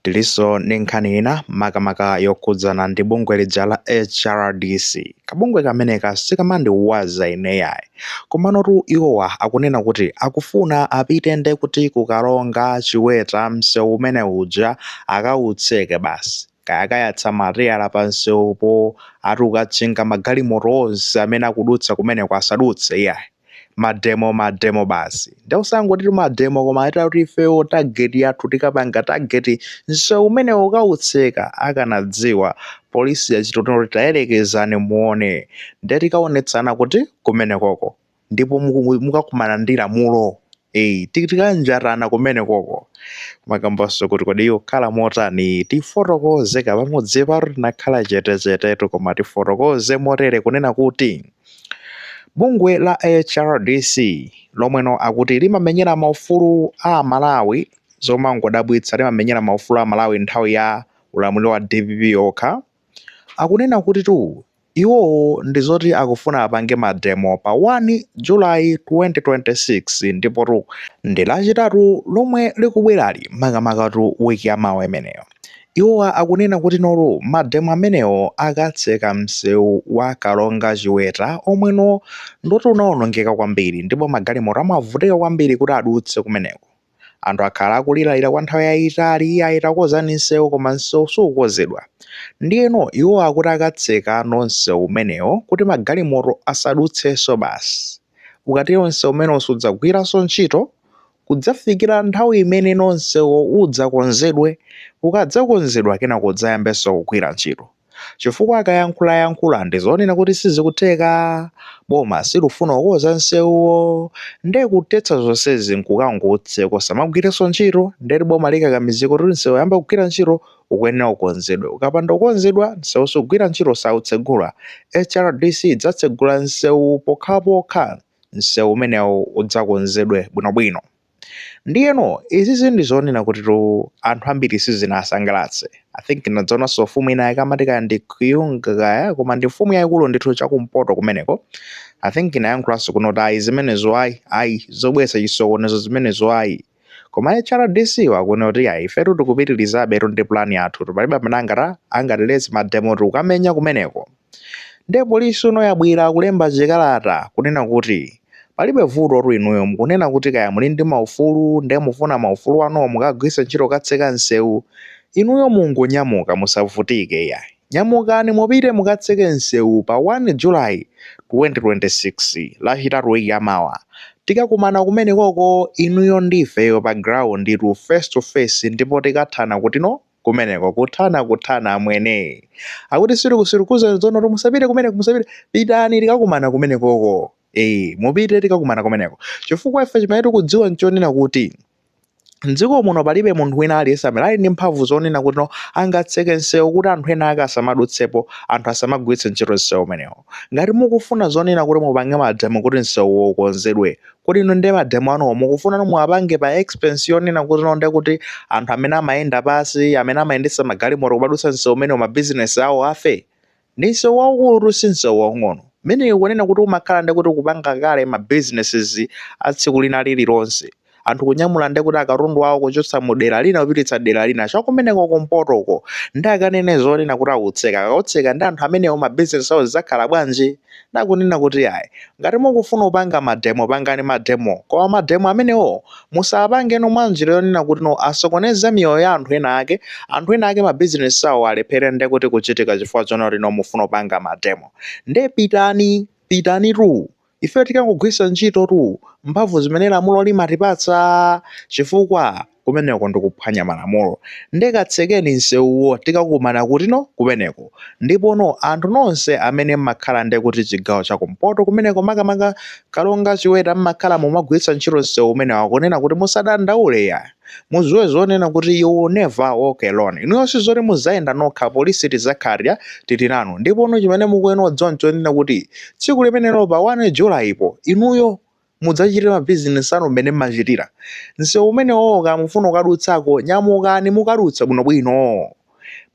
Tilinso ndi nkhani ina makamaka yokhudzana ndi bungwe lija la HRDC. Kabungwe kameneka sikamandiwaza ine yayi. Komanotu iwowa akunena kuti akufuna apite nde kuti ku Karonga Chiweta msewu umene uja akautseke basi. Kaya akayatsa mateyala pa msewupo ati kukatchinga magalimoto onse amene akudutsa kumeneko asadutse iyayi. mademo mademo basi nde usangoti mademo koma akuti ifeyo target yathu tikapanga target nsewu umenewo tikautseka akanadziwa polisi yachita kuti tayerekezani muone nde tikaonetsana kuti kumenekoko ndipo muku- mukakumana ndi lamulo eyi ti- tikanjatana kumenekoko makambanso kuti kodi iyo khala motani tifotokoze kapamudzi paro tinakhala chetechetetu koma tifotokoze motere kunena kuti Bungwe la HRDC lomweno akuti limamenyera maufulu a aMalawi zomangodabwitsa limamenyera maufulu a aMalawi nthawi ya ulamuliro wa DPP okha akunena kutitu iwowo ndi zoti akufuna apange mademo pa 1 July 2026 ndipotu ndi lachitatu lomwe likubwerali makamakatu wiki ya mawa imeneyo. Iwowa akunena kuti noru mademo amenewo akatseka msewu wa Karonga Chiweta omweno ndoti unawonongeka kwambiri ndipo magalimoto amavutika kwambiri kuti adutse kumeneko. Anthu akhala akuliralira kwa nthawi yayitali iyayi takonzani msewu koma msewu sukukonzedwa. Ndiyeno iwo akuti akatseka no msewu umenewo kuti magalimoto asadutsenso basi. Ukatero msewu umenewo sudzagwiranso ntchito kudzafikira nthawi imene msewuwo udzakonzedwe. Ukadzakonzedwa, kenako udzayambenso kugwira ntchito. Chifukwa akayankhulayankhula ndi zonena kuti sizikutheka, boma silufuna kukonza nsewuwo, nde kuthetsa zonsezi n'kukangoutseka usamagwirenso ntchito, ndeti boma likakamizike kuti msewu kuyamba kugwira ntchito ukuyenera ukonzedwe. Ukapanda kukonzedwa, msewu sugwira ntchito, sautsegula. HRDC idzatsegula msewuwu pokhapokha msewu umenewu udzakonzedwe bwinobwino. Ndiyeno izizi ndi zonena kutitu anthu ambiri sizinawasangalatse. I think ndinadzaonanso mfumu ina yake amati kaya ndi Kyungu kaya, koma ndi mfumu yayikulu ndithu chakumpoto kumeneko. I think inayankhulanso kunena kuti ayi zimenezo ayi, ayi zobweretsa chisokonezo zimenezo ayi. koma hrdc akunena kuti ayi ifetu tikupitirizabetu ndi plan yathutu palibe amene angata angatiletse mademo tikukamenya kumeneko nde polisi ino yabwera kulemba chikalata kunena kuti palibe vutotu inuyo mukunena kuti kaya muli ndi maufulu nde mufuna maufulu anuwo mukagwiritse ntchito kukatseka msewu inuyo mungonyamuka musavutike iyayi Nyamukani mupite mukatseke msewu pa 1 July 2026 lachitatu week yamawa. Tikakumana kumenekoko inuyo ndi ifeyo pa ground tu face to face ndipo tikathana kutino kumeneko kuthana kuthana amwene. Akuti sitikusirkuzani tsonotu musapite kumeneko musapite pitani tikakumana kumenekoko mupite tikakumana kumeneko chifukwa ife chimene tikudziwa nchonena kuti mdziko muno palibe munthu wina aliyense amene ali ndi mphamvu zonena kuti no angatseke nsewu kuti anthu ena ake asamadutsepo anthu asamagwiritse ntchito nsewu umenewo ngati mukufuna zonena kuti mupange mademo kuti nsewuwo ukonzedwe kodi no nde mademo anuwo mukufuna no muwapange pa expense yonena kuti no nde kuti anthu amene amayenda pasi amene amayendetsa magalimoto kumadutsa nsewu umenewo mabizinesi awo afe Ndi nsewu waukulutu si nsewu waung'ono. Mmene ikunena kuti umakhala ndiye kuti kupanga kale ma businesses a tsiku lina lililonse. Anthu kunyamula ndiye kuti akatundu awo kuchotsa mu dera lina kupititsa dera lina. Cha kumeneko kumpotoko. Ndiye akanene zonena kuti akautseka. Akautseka ndiye anthu amenewo ma business awo zidzakhala bwanji? nakunena kuti ayi ngati mukufuna kupanga mademo pangani mademo koma mademo amenewo musapange no mwa njira yonena kuti no asokoneze miyoyo ya anthu ena ake anthu ena ake mabizinesi awo alephere nde kuti kuchitika chifukwa chonena kuti no mufuna kupanga mademo nde pitani pitani tu ife tikangogwiritsa ntchitotu mphamvu zimene lamulo limatipatsa chifukwa kumeneko ndikuphwanya malamulo nde katsekeni nsewuwo tikakumana kutino kumeneko ndipono anthu nonse amene mmakhala nde kuti chigawo cha kumpoto kumeneko makamaka Karonga Chiweta mmakhala mumagwiritsa ntchito nsewu umenewo akunena kuti musadandaule iyaa muziwe zonena kuti you never walk alone inuyo sizoti muzayenda nokha polisi tizakhala tili nanu ndipono chimene mukuyenera kudziwa nchonena kuti tsiku limenelo pa 1 july po inuyo Mudzachitire mabizinesi anu mmene mmachitira. Msewu umenewo kaya mukufuna kukadutsako, nyamukani mukadutse bwinobwino.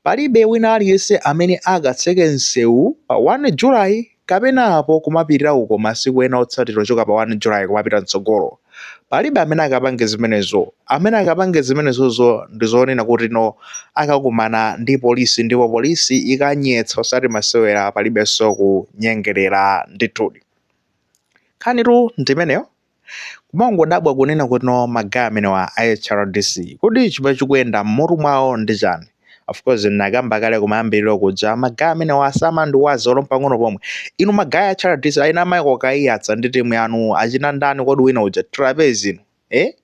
Palibe wina aliyense amene akatseke msewu pa 1 July kapena apo kumapitira uko masiku ena otsatira ochoka pa 1 July kumapita m'tsogolo. Palibe amene akapange zimenezo. Amene akapange zimenezozo ndi zonena kuti no akakumana ndi polisi ndipo polisi ikanyetsa osati masewera palibenso kunyengerera ndithudi. Nkhanitu ndi imeneyo. Kumangodabwa kunena kutino ma guy amenewa a hrdc kodi chimene chikuyenda mmutu mwawo ndi chani? Of course ndinakamba kale kumayambiliro kuja ma guy amenewa samandiwaza olo mpang'ono pomwe. Inu ma guy a hrdc achina Michael Kaiyatsa ndi team yanu achina ndani kodi wina uja Trapence inu eh?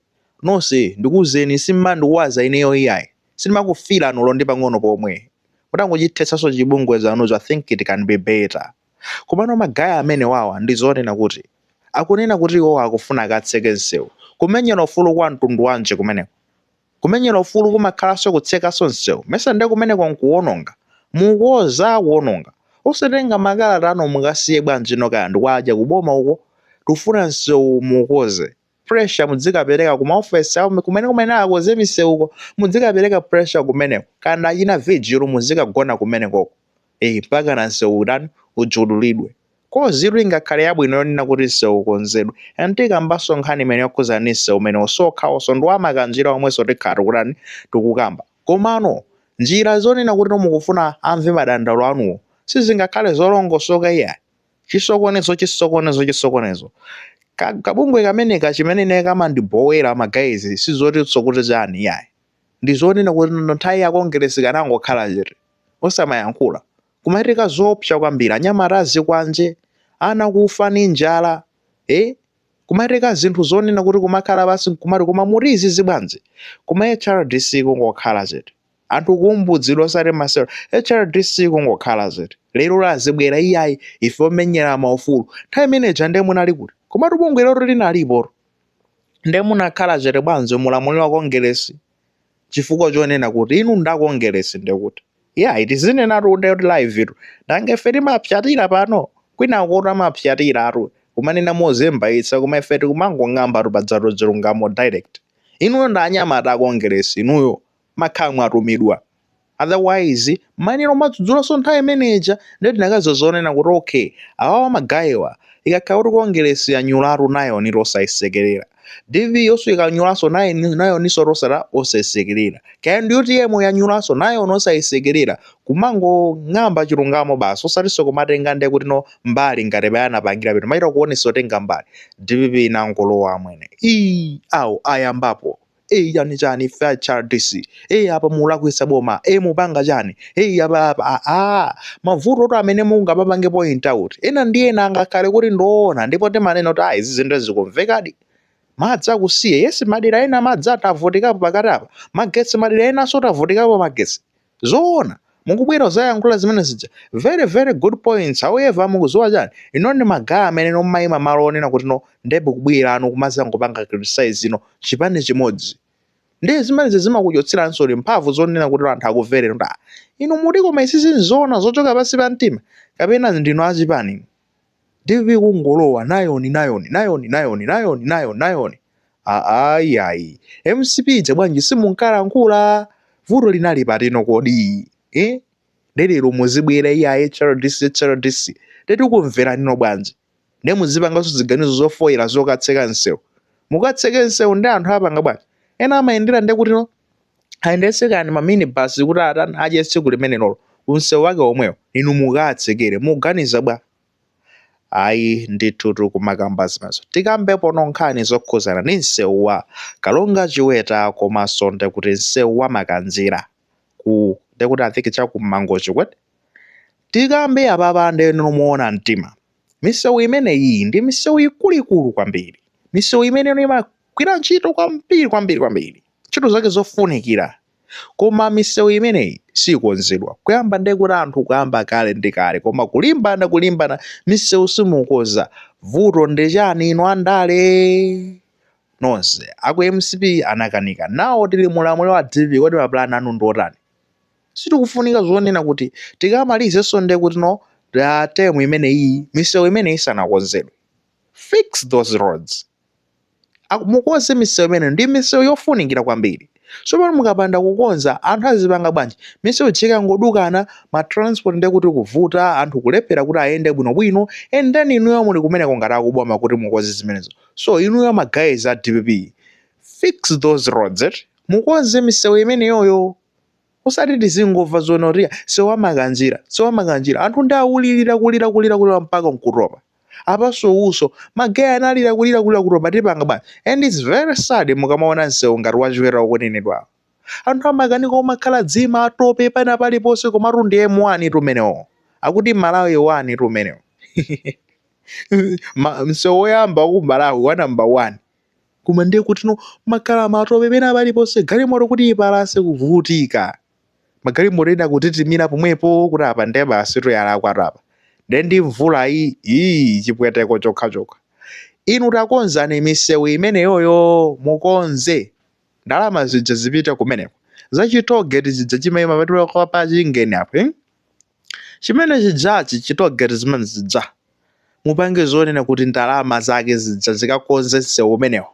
Nonse ndikuuzeni simumandiwaza ineyo iyayi. Sindimakufeelan olo ndi pang'ono pomwe. Mutangochithetsanso chibungwe chanucho I think it can be better. Komano ma guy amenewawa ndi zonena kuti? Akunena kuti iwowa akufuna akatseke msewu. Kumenyera ufulu kwa mtundu wanji kumeneko? Kumenyera ufulu kumakhalanso kutsekanso msewu? Mesa nde kumeneko nkuwononga? Mukukonza kuwononga. Osatenga makalata anu mukasiye bwanji kaya ndi kwa aja ku boma uko. Tikufuna msewu muwukonze. pressure mudzikapereka ku maofesi awo kumene kumene akonze miseuko mudzikapereka pressure kumeneko kana achina vigil muzikagona kumenekoko eh mpaka na mseu utani ujudulidwe cause tu ingakhale yabwino yonena kuti mseu ukonzedwe and tikambanso nkhani imeneyo yokhuza ni mseu umenewo osakhanso ndi wamakanjira omwenso tikhala tikutani tikukamba komano njira zonena kuti mukufuna amve madandaulo anuwo sizingakhale zolongosoka iyayi chisokonezo chisokonezo chisokonezo Ka- kabungwe kameneka chimene ine kamandibowera ma guys sizotinso kuti chani yayi ndizonena kuti no- nthawi ya kongeresi kanangokhala chete osamayankhula kumachitika zoopsa kwambiri anyamata azikwanje ana kufa ni njala eh? kumachitika zinthu zonena kuti kumakhala basi kumati koma mu dziko bwanji kuma hrdc kungokhala chete anthu kumbudzidwa osati masewera hrdc kungokhala zii lero lazibwera iyayi ife omenyera maufulu nthawi imeneja nde munali kuti komatu bungwe lelo linalipotu nde munakhala chete bwanji mulamuliro wa kongeresi chifukwa chonena kuti inu nda kongeresi nde kuti iyayi tizinenatu kuti kuti live tu nanga ife timapsatira pano kwina kuti amapsatira aja kumanena mozembayitsa koma ife tikumangong'ambatu pakatitu chilungamo direct inuyo nda anyamata a kongeresi inuyo makhamu atumidwa otherwise mwina mumadzudzulaso nthawi imene ija nde tikanaziwa zonena kuti okay awawa magayiwa ikakhala kuti kongelesi yanyulatu nayoni osaisekelera dpp yonso ikanyulaso nayoni- nayoninso osala osaisekelera kaya ndi utm yanyulaso nayoni osaisekelera kumangong'amba chilungamo basi osatinso kumatenga nde kuti no mbali ngati mmene anapangira pano machita kuonesa otenga mbali dpp inangolowa amwene ii awo ayambapo Hey chani chani ife a HRDC. Hey apa mulakwitsa boma. Hey mukupanga chani. Hey apa apa ah, ah. Mavuto oti amene mungawapange point out. Ena ndi ena angakhale kuti ndoona ndipo timanena kuti ah izi zinthu zikumvekadi. Madzi akusiya. Yes madera ena madzi tavutikapo pakati apa. Magetsi madera enaso tavutikapo magetsi. zoona mukubwera kuzayankhula zimene zija very very good points however mukuziwa chani inu ndi ma guy amene mmayima malo onena kuti no nde mukubwerano kumazangopanga criticize no chipani chimodzi nde zimenezi zimakuchotseraninso mphamvu zonena kuti anthu akumvereni kuti ah inu muti koma izizi nzoona zochoka pansi pa mtima kapena ndinu achipani inu? TV kungolowa nayoni nayoni nayoni nayoni nayoni nayoni nayoni ayi ayi mcp ija bwanji simunkalankhula vuto linali pati no kodi eh? lero muzibwera iya hrdc hrdc nde tikumvereni no bwanji nde muzipanganso ziganizo zofoira zokatseka msewu mukatseke msewu ndi anthu apanga bwanji ena amayendera nde kutino ayendetseko ma minibus kuti atani adye tsiku limenelolo ku msewu wake womwewo inu mukaatsekere muganiza bwa ayi ndithutu kumakamba zimenezo tikambepo nkhani zokhuzana ndi msewu wa Karonga chiweta komanso ndekuti msewu wa makanjira ku ndekuti I think chakuMangochi kwete tikambe apapa nde moona mtima misewu imeneyi ndi misewu ikuluikulu kwambiri misewu imeneyo imagwira ntchito kwambiri kwambiri kwambiri ntchito zake zofunikira koma misewu imeneyi sikonzedwa kuyamba ndekuti anthu kuyamba kale ndi kale koma kulimbana kulimbana misewu simukonza vuto ndi chani inu andale nonse aku mcp anakanika nawo tili mulamuliro wa DPP kodi mapulani anu ndi otani sitikufunika zonena kuti tikamalizenso ndekuti no term imeneyi misewu imeneyi isanakonzedwe fix those roads Aku- mukonze misewu imeneyo ndi misewu yofunikira kwambiri tsopano mukapanda kukonza anthu azipanga bwanji misewu ikangodukana ma transport ndiye kuti kuvuta anthu kulephera kuti ayende bwinobwino and then inuyo muli kumeneko ngati akuboma kuti mukonze zimenezo so inuyo ma guys a dpp fix those roads eh? mukonze misewu imeneyoyo usati tizingomva zonena kuti msewu wa Makanjira msewu wa Makanjira anthu ndi akulirira kulira kulira kulira mpaka nkutopa apanso uko ma guy analira kulira kulira kutopa tipanga bwanji and it's very sad mukamaona msewu ngati wa Chiweta ukunenedwawo anthu amakanika omakhala zimatope pena paliponse komatu ndi m1 tu umenewo akuti malawi 1 tu umenewo Ma- msewu woyamba ku malawi wa number 1 koma ndiye kuti no mmakhala matope pena paliponse galimoto kuti ipalase kuvutika magalimoto ena kutitimira pomwepo kuti apa ndiye basi yalakwatu apa ndiye ndi mvula iyi iyi chipweteko chokhachokha inu takonzani misewu imeneyoyo mukonze ndalama zija zipite kumeneko za chitogeti zija chimayima pa pachingeni apo eh? Chimene chijachi chi toll gate zimene zija mupange zonena kuti ndalama zake zija zikakonze msewu umenewo.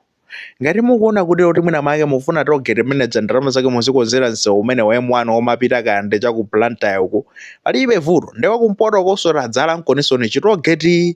Ngati mukuona kuti kuti mwina mwake mufuna toll gate imene ija ndalama zake muzikonzera msewu umene wa M1 omapita kaya ndi cha ku Blantyre uku palibe vuto. Nde wakumpotokonso tadzalaniko chi toll gate.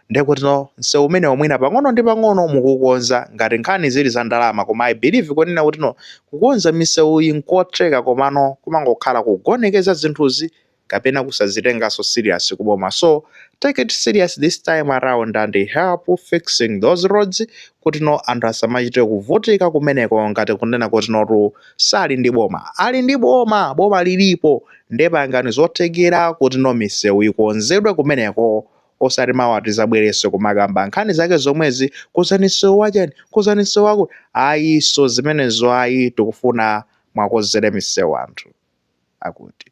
Ndekutino msewu umenewo mwina pang'ono ndi pang'ono mukukonza ngati nkhani zili za ndalama koma I believe kunena kutino kukonza misewuyi nkotheka komano kumangokhala kugonekeza zinthuzi kapena kusazitenganso serious ku boma so take it serious this time around and help fixing those roads kutino anthu asamachite kuvutika kumeneko ngati kunena kutinotu sali ndi boma ali ndi boma boma lilipo nde pangani zothekera kutino misewu ikonzedwe kumeneko osati mawa tizabwerenso kumakamba nkhani zake zomwezi kozani msewu wachani kozani msewu wakuti ayiso zimenezo ayi tikufuna muwakonzere misewu anthu akuti